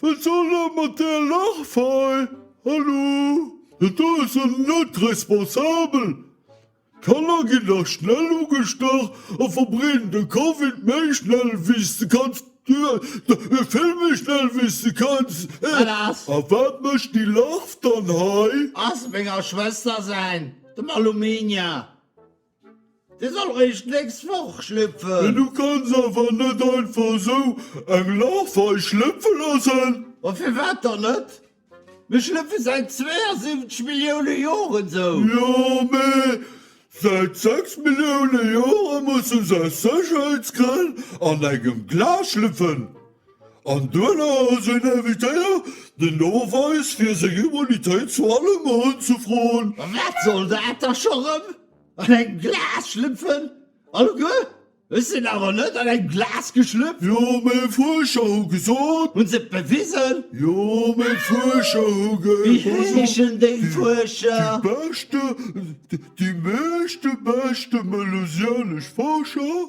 Wat soll dat mat där Lachfail? Hallo, dat do ass jo net responsabel! D'Kanner ginn da schnell ugestach a verbreeden de Covid méi schnell wéi s de kanns. Vill méi schnell wéi s de kanns! A wat mécht déi Larv dann hei? Ass menger Schwëster säin, dem Aluminier. De soll réischt d'nächst Woch schlüpfen. Mee du kanns awer net einfach esou eng Larv hei schlëpfe loossen. Ma firwat dann net? Mir schlëpfe säit 72 Millioune Joren esou. Jo, mee säit 6 Millioune Jore musse se aus Sécherheetsgrënn an engem Glas schlüpfen. An duerno hu se en invitéiert, den Noweis fir seng Immunitéit zu allem unzefroen. Wat soll dat da scho rëm? An engem Glas schlüpfen? Alleguer? Ech sinn awer net an engem Glas geschlüpft. Jo, mee Fuerscher hu gesot. Hunn se et bewisen? Jo, mee Fuerscher hu gesot. Wéi heeschen déi Fuerscher? Déi beschte, déi meeschte beschte melusianesch Fuerscher.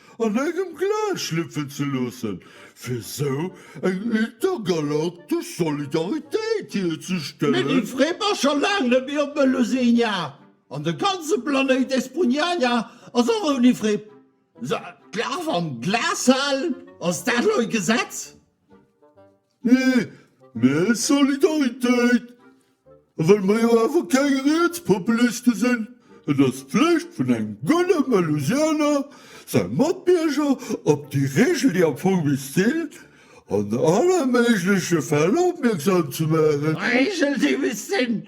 an engem Glas schlüpfen ze loossen, fir esou eng intergalaktesch Solidaritéit hierzestellen. Mir gi free, ma scho laang net méi op Melusenia, an de ganze Planéit Espugnania ass och ouni Fripp. D'Glas am Glas halen, ass dat elo e Gesetz? Nee, mä Solidaritéit! A well mer jo awer keng Rietspopuliste sinn, et ass d'Flicht vun engem gudde Melusianer, säi Matbierger op déi Reegel, déi am Fong misst an alle méigleche Fäll opmierksam ze maachen. Reegel, déi misst sinn!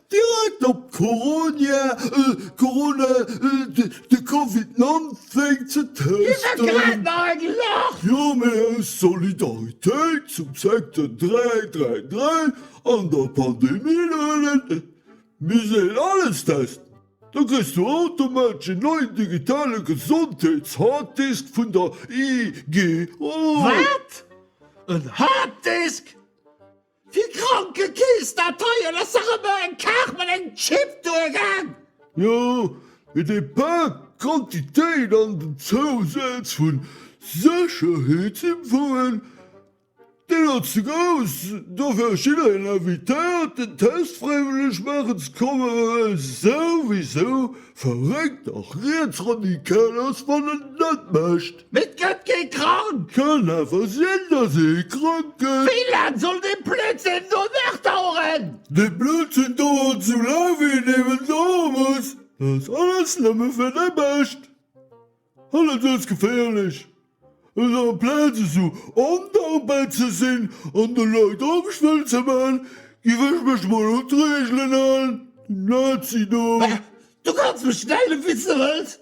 Direkt op d'Coronia, Corona, de Covid 19 ze testen. Dir sot grad nach eng Lach! Jo, mee aus Solidaritéit zum Secteur 333 an der Pandemie luelen misst een alles testen. Da kriss du automatesch en neien digitale Gesondheets-Harddisk vun der IGO. Wat? En Harddisk? Fir Krankekeess Dateien ass dach emmer eng Kaart mat engem Chip duergaang. Jo, mee dee Pack, d'Quantitéit an den Zousaz vun Sécherheetsinfoen, deen ass ze grouss. Dofir ass jiddereen invitéiert den Test fräiwëlleg maachen ze kommen, well e souwisou verréckt a rietsradikal ass wann en et net mécht. Et gëtt kee krank! Kann awer sinn, dass ee krank gëtt. Wéi laang soll dee Blödsinn do nach daueren? Dee Blödsinn dauert sou laang, wéi en eben dauere muss. Dat ass alles nëmme fir dei Bescht. Alles ass geféierlech. Esou amplaz esou ondankbar ze sinn an de Leit Angscht wëllen ze maachen, giff ech mech mol un d'Regelen halen. Den Nazi do. Du kanns mech nennen, wéi s de wëlls.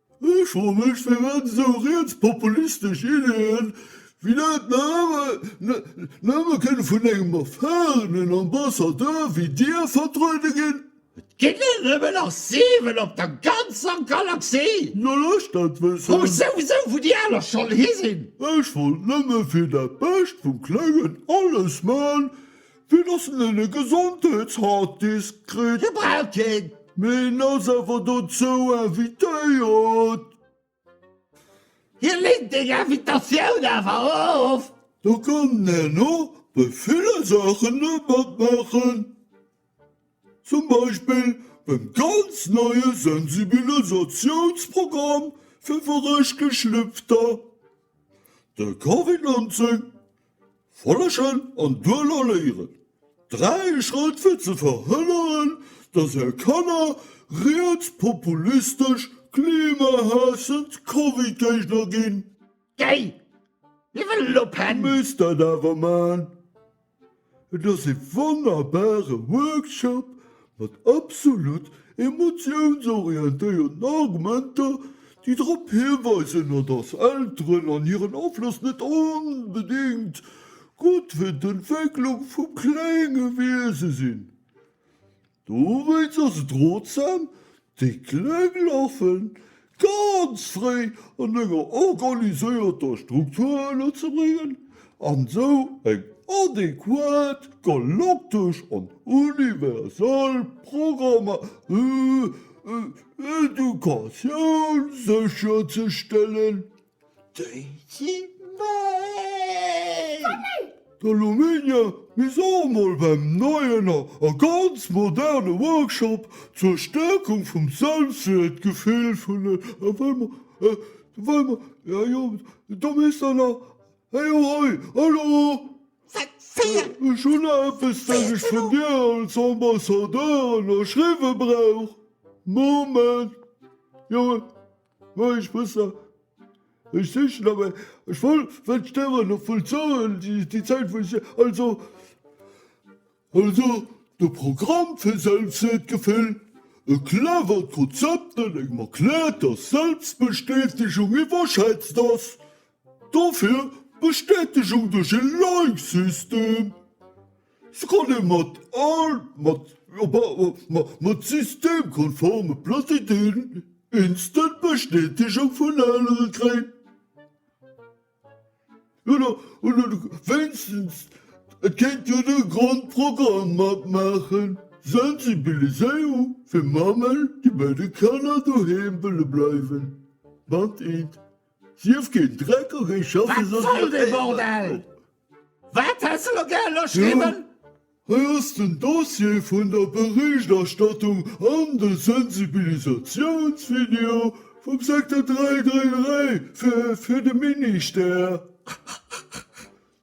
Ech froe mech, firwat esou rietspopulistesch Iddien wéi dat nëmme kënne vun engem erfarenen Ambassadeur wéi Dir vertruede ginn? Et ginn der nëmmen nach 7 op der ganzer Galaxie! No lech dat wëssen! Wou souwisou wou déi aner schonn hi sinn! Ech wollt nëmme fir dat Bescht vum Klengen alles man, Wien ass denn en Gesondheetsharddisk kritt? Hie brauch keen! Mee en ass awer dozou invitéiert! Hie leent deng Invitatioun awer of! Da kann en och bei ville Saachen net matmaachen, zum Beispill beim ganz neie Sensibilisatiounsprogramm fir Verréschgeschlüpfter, der Covid-19 Follegen an duerno léieren, dräi Schrëtt fir ze verhënneren, dass är Kanner rietspopulistesch, klimahaassend Covid-Géigner ginn. Gei! Mir wëllen elo Pen! Du misst dat awer man. Et ass e wonnerbare Workshop Mat absolut emotiounsorientéierten Argumenter, déi drop hiweisen, a dass Elteren an hiren Afloss net onbedéngt gutt fir d'Entwécklung vum klénge Wiese sinn. Dowéinst ass et rotsam, Déi Kleng lafen ganz fréi an enger organiséierter Struktur ënnerzebréngen an sou eng adequat, galaktesch an universal Programmedukatioun sécherzestellen. D'Daisy May! Der Lominia, mir se emol beim neien a ganz moderne Workshop zur Stärkung vum Selbstwäertgefill vun den Fraen. Do misst der nach hei, hei, hallo! Ech hunn nach eppes, dat ech vun dir als Ambassadeur ënnerschriwwe brauch. Moment! Moien Sprësser, ech sichen nach eng ech wollt well d'Stären nach voll zouhalen déi Zäit wou ech also also de Programm fir Selbstwertgefill e clevert Konzept dat engem erkläert dass Selbstbestätegung iwwerschätzt ass dofir Bestätegung duerch e Like-System Se kanne mat all mat mat systemkonforme Prozeduren instant Bestätegung vun anere kréien. Oder oder wéinstens et kéint jo de Grondprogramm matmaachen, Sensibiliséierung fir Mammen, déi bei de Kanner doheem wëlle bleiwen. Band 1 Sief keen Dreck a géi schaffen. Wat soll dee Bordel? Wat häss de lo gär ënnerschriwwen? Hei ass den Dossier vun der Berichterstattung an de Sensibilisatiounsvideo vum Secteur 333 fir de Ministère.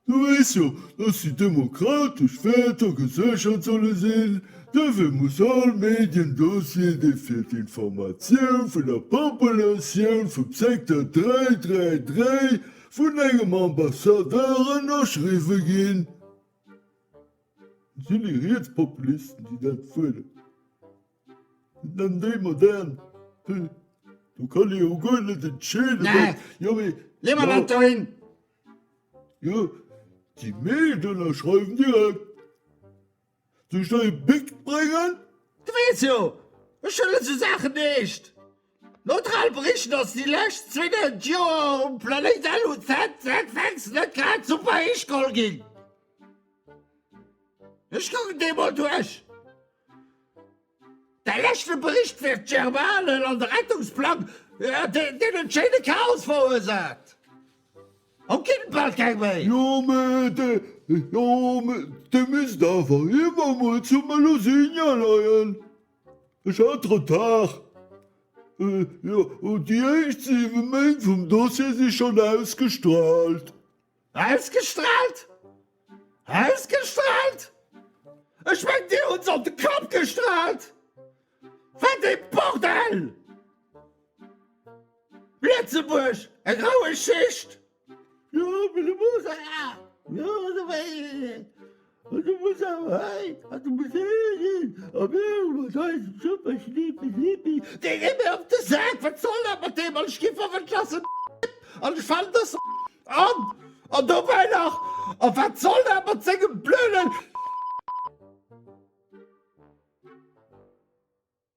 Du weess jo, dass déi demokratesch Wäerter geséchert solle sinn. Dofir muss all Mediendossier, dee fir d'Informatioun vun der Populatioun vum Secteur 333 Vun engem Ambassadeur ënnerschriwwe ginn. Sinn déi Rietspopulisten, déi dat fuerderen. Sinn dann déi Modern. Do kann ee jo guer net entscheeden, wat. Jo mee. Lee mer dat dohin! Jo, déi meescht ënnerschreiwen direkt. Soll ech der e Bic bréngen? Du weess jo, ech huelen sou Saachen eescht neutral. Bericht ass déi lescht 2000 Joer um Planéit LUZ ZFX net grad super héich geholl ginn. Ech kucken déi emol duerch. Däi leschte Bericht wär d'Germane an de Rettungsplang, deen en schéine Chaos verursaacht. Haut ginn et bal keng méi. Jo mee de misst awer iewer mol zum Melusina leien. Ech hat Retard. Jo déi éischt 7 Méint vum Dossier si schon ausgestrahlt. Ausgestrahlt? Ausgestrahlt? Ech mengt dir hutt se op de Kapp gestrahlt? Wat ee Bordell! Lëtzebuerg, eng rou Geschicht! Du muss awer hei an de Musée ginn a mir hu mat eisem super Schneepi Schneepi, dee geet mir op de Sak, wat soll dat mat deem an ech ginn 25 an ech falen dës an an dobäi nach a wat soll dat mat sengem blöden.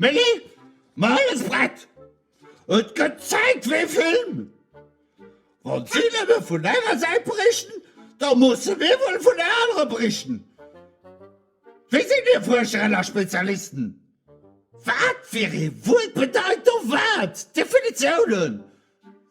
Méi? Ma alles prett! Et gëtt Zäit fir ee Film! Wa si nëmme vun enger Säit berichten, da musse mir wuel vun der anerer berichten. Wie sinn hir Fuerscheren a Spezialisten? Wat fir ee Wuert bedeit do wat? Definitiounen?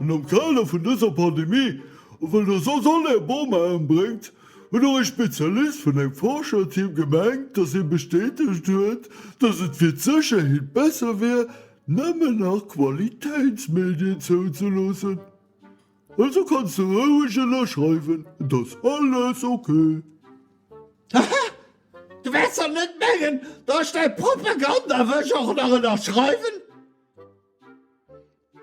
An am Kader vun dëser Pandemie, well Der soss all Är Bomaen bréngt, huet och e Spezialist vun engem Forscherteam gemengt, dass hie bestätegt huet, dass et fir d'Sécherheet besser wier, nëmmen nach Qualitéitsmedien zouzeloossen. Also kanns de roueg ënnerschreiwen, et ass alles ok. Haha, du wäerts dach net mengen, dass ech däi Propaganda wësch och nach ënnerschreiwen?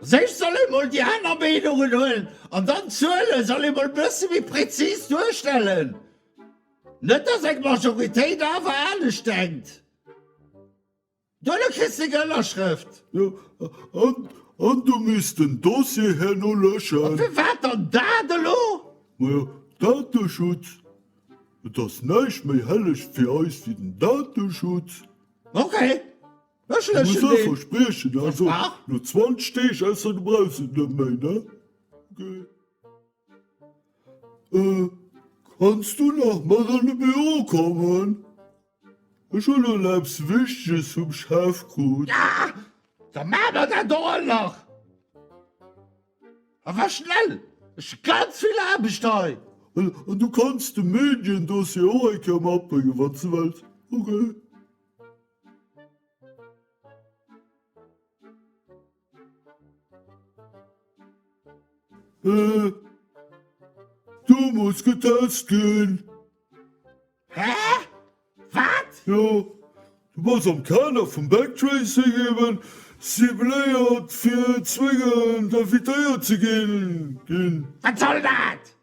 Séch soll ee mol déi aner Meenungen huelen an dann d'Zuele soll ee mol e bësse méi präzis duerstellen, net datt eng Majoritéit awer anescht denkt. Duerno kriss de eng Ënnerschrëft. An du misst den Dossier herno löschen. A firwat dann dat elo? Majo, Dateschutz. Et ass näischt méi helleg fir eis wéi den Dateschutz. Ok. Ech muss och verspriechen, also no 20 Deeg ausser du brauchs et net méi, ne? Okay. Kanns du nach mat an de Büro kommen? Ech hunn elo eppes Wichteges vum Chef krut. Ja, da maache mer dat och all nach. A war schnell, ech hu ganz vill Aarbecht hei. An du kanns de Medien-Dossier och eng Kéier matbréngen, wann s du wëlls. Okay. Do muss getauscht ginn. Hä? Wat? Jo, du bass am Kader vum Backtracing eben cibléiert fir zwéngend invitéiert ze ginn. Wat soll dat?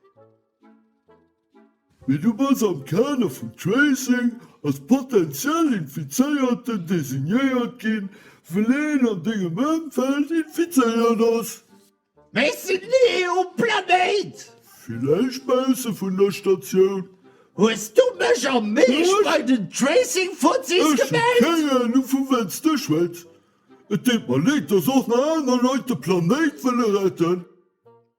Mee du bass am Kader vum Tracing als potentiell Infizéierten designéiert ginn, well een an dengem Ëmfeld infizéiert ass. Mee ech sinn ni um Planéit! Villäicht bausse vun der Statioun. Hues du mech am Meescht bei den Tracing-Fuzis gemellt? Ech hu keng Anung vu wat s de schwätz. Et deet mer Leed, dass och nach aner Leit de Planéit wëlle retten.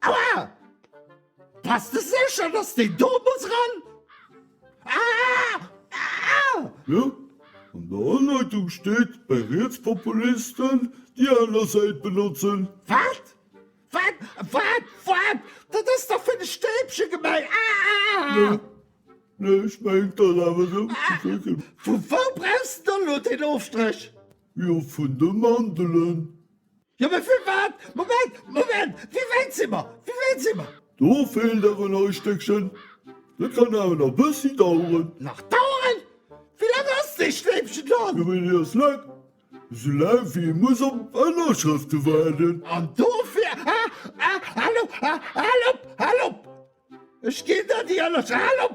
Aua! Bass de sécher dass deen do muss ran? Aah! Jo, an der Anleitung steet bei Rietspopulisten déi aner Säit benotzen. Wat? Wat? Wat? Wat? Dat ass dach fir de Stäbchen gemaach! Aah! Nee, ech mengen dat awer esou. Vu wou brauchs de dann elo deen Ofstrich? Jo, vun de Mandelen. Jo mee firwat? Moment, Moment, wéi wäit si mer? Wéi wäit si mer? Do feelt awer nach e Stéckchen. Dat kann awer nach e bëssi daueren. Nach daueren? Wéi laang ass dee Schleifchen dann? Jo mee dee ass laang. Esou laang wéi ee muss op Ënnerschrëfte waarden. An dofir, ha, ha, hal op, ha, hal op, hal op! Ech ginn der déi Ënnersch, hal op!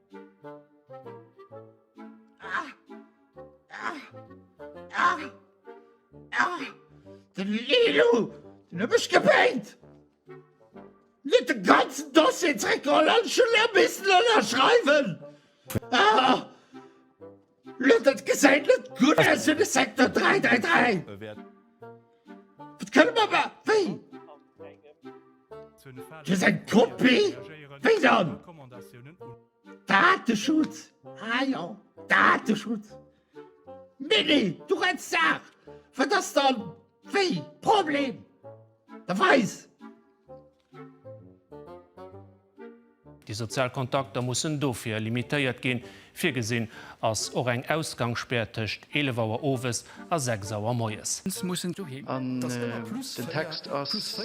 Den Leeloo, deen huet mech gebéit, en huet de ganzen Dossier zréckgeholl an ech hunn elo missen ënnerschreiwen. Lo dat gesäit net gutt aus fir de Secteur 333. Wat kënne mer ma. Wéi? Dat ass eng Kopie? Wéi dann? Dateschutz? Ah jo, Dateschutz. Nee, nee, du reds Saach. Wat ass dann wéi? Problem? Da weis. Déi sozial Kontakter mussen dofir limitéiert ginn. Virgesinn ass och eng Ausgangsspär tëscht 11 Auer owes a 6 Auer moies. An den Text ass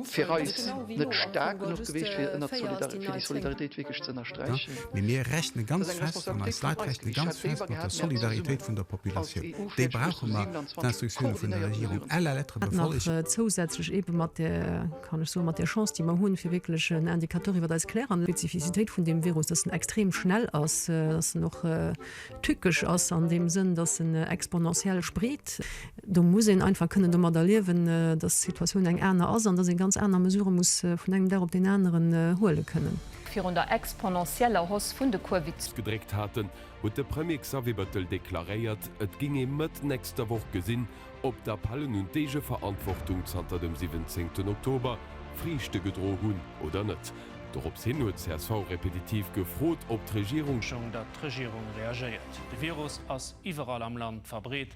fir eis net staark genuch gewiescht, fir déi Solidaritéit wierklech ze ënnersträichen. Mee mir rechne ganz fest, an eis Leit rechne ganz fest mat der Solidaritéit vun der Populatioun. Déi brauche mer. D'Instructione vun der Regierung à la lettre befollegen. Hätt nach zousätzlech eebe mat där, kann ech soen, mat där Chance, déi mer hunn, fir wierklech en Indicateur iwwer eis Kläranlagen. Spezifizitéit vun deem Virus, dass en extrem schnell ass, dass en och tückesch ass an deem Sënn, dass en exponentiell spreet. Do muss een einfach kënnen domadder liewen, dass d'Situatioun eng aner ass an dass ee ganz aner Mesurë muss vun engem Dag op deen aneren huele kënnen. Virun der exponentieller Hoss vun de Kuervi. Gedréckt haten, huet de Premier Xavier Bettel deklaréiert, et ging ee Mëtt nächster Woch gesinn, ob d'Appellen un d'Eegeverantwortung zanter dem 17 Oktober Friichte gedro hunn oder net. Dorops hin huet csv repetitiv gefrot, ob d'Regierung. Schong, datt d'Regierung reagéiert. De Virus ass iwwerall am Land verbreet,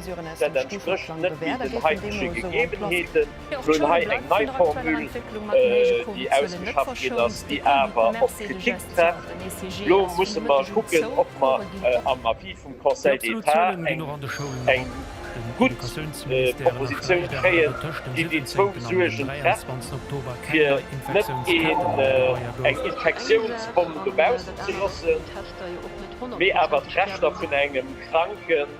Dat entsprécht net méi den haitege Gegebenheeten. Mir hunn hei eng nei Formule, déi ausgeschafft ginn ass, déi awer op Kritik trefft. Elo musse mer kucken, ob mer am Avis vum Conseil d'État eng gutt Propositioun kréien, déi déi zwou Suergen trefft, fir net eng Infektiounsbomm dobaussen ze loossen, mee awer d'Rechter vun engem Kranken,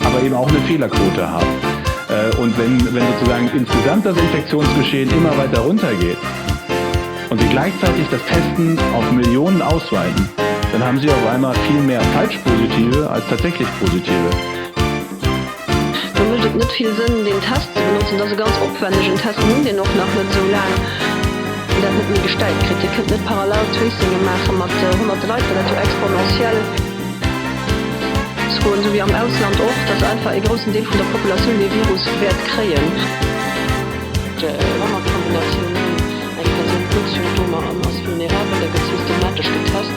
aber eben auch eine Fehlerquote hat. Äh, und wenn, wenn sozusagen insgesamt das Infektionsgeschehen immer weiter runtergeht und wir gleichzeitig das Testen auf Millionen ausweiten, dann haben Sie auf einmal viel mehr falsch Positive als tatsächlich Positive. Da mécht et net vill Sënn, deen Test ze benotzen. Dat ass e ganz opwännegen Test. Mir hunn deen och nach net esou laang, wéi dat net méi gestellt kritt. Dir kënnt net parallel Tracinge maache mat Honnerte Leit, well dat jo exponentiell. Froen, esou wéi am Ausland och, datt einfach ee groussen Deel vun der Populatioun dee Virus wäert kréien. Wannerkombinatioun, Eng Persoun huet Symptomer an ass vulnerabel, da gëtt systematesch getest.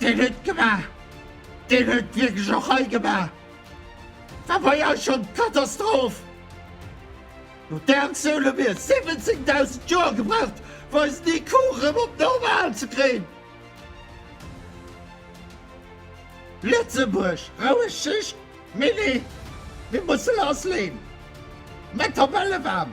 Deen huet et gemaach. Deen huet et wierklech och hei gemaach. War bei eis schonn d'Katastroph. No där Aktioun hu mir 17.000 Joer gebraucht, fir eisen IQ erëm op normal ze kréien. Lëtzebuerg, roueg Schicht, mee nee, mir musse lassleeën. Mä d'Tabelle waarm.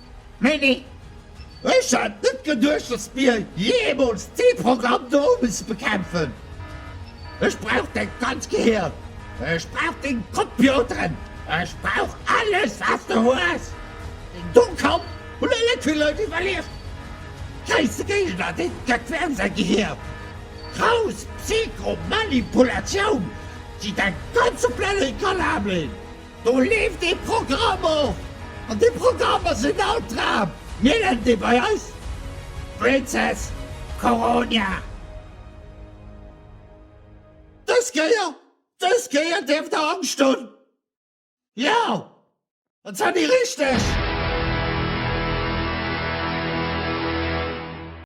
Mee nee, ech hat net geduecht, dass mir jeemools dee Programm do musse bekämpfen. Ech brauch däi ganz Gehir, ech brauch deng Compioteren, ech brauch alles wat de hues. Deng domm Kapp hunn e Léck vill Leit iwwerlieft. Schäisse Géigner, dee gëtt wärem säi Gehir. Grouss Psycho-Manipulatioun, déi däi ganze Planéit kann ablén. Do leeft ee Programm och, an dee Programm ass en Altraam. Mir nennen dee bei eis Princess Corona. Dës Kéier, dës Kéier dierft der Angscht hunn, jo, an zwar déi richteg.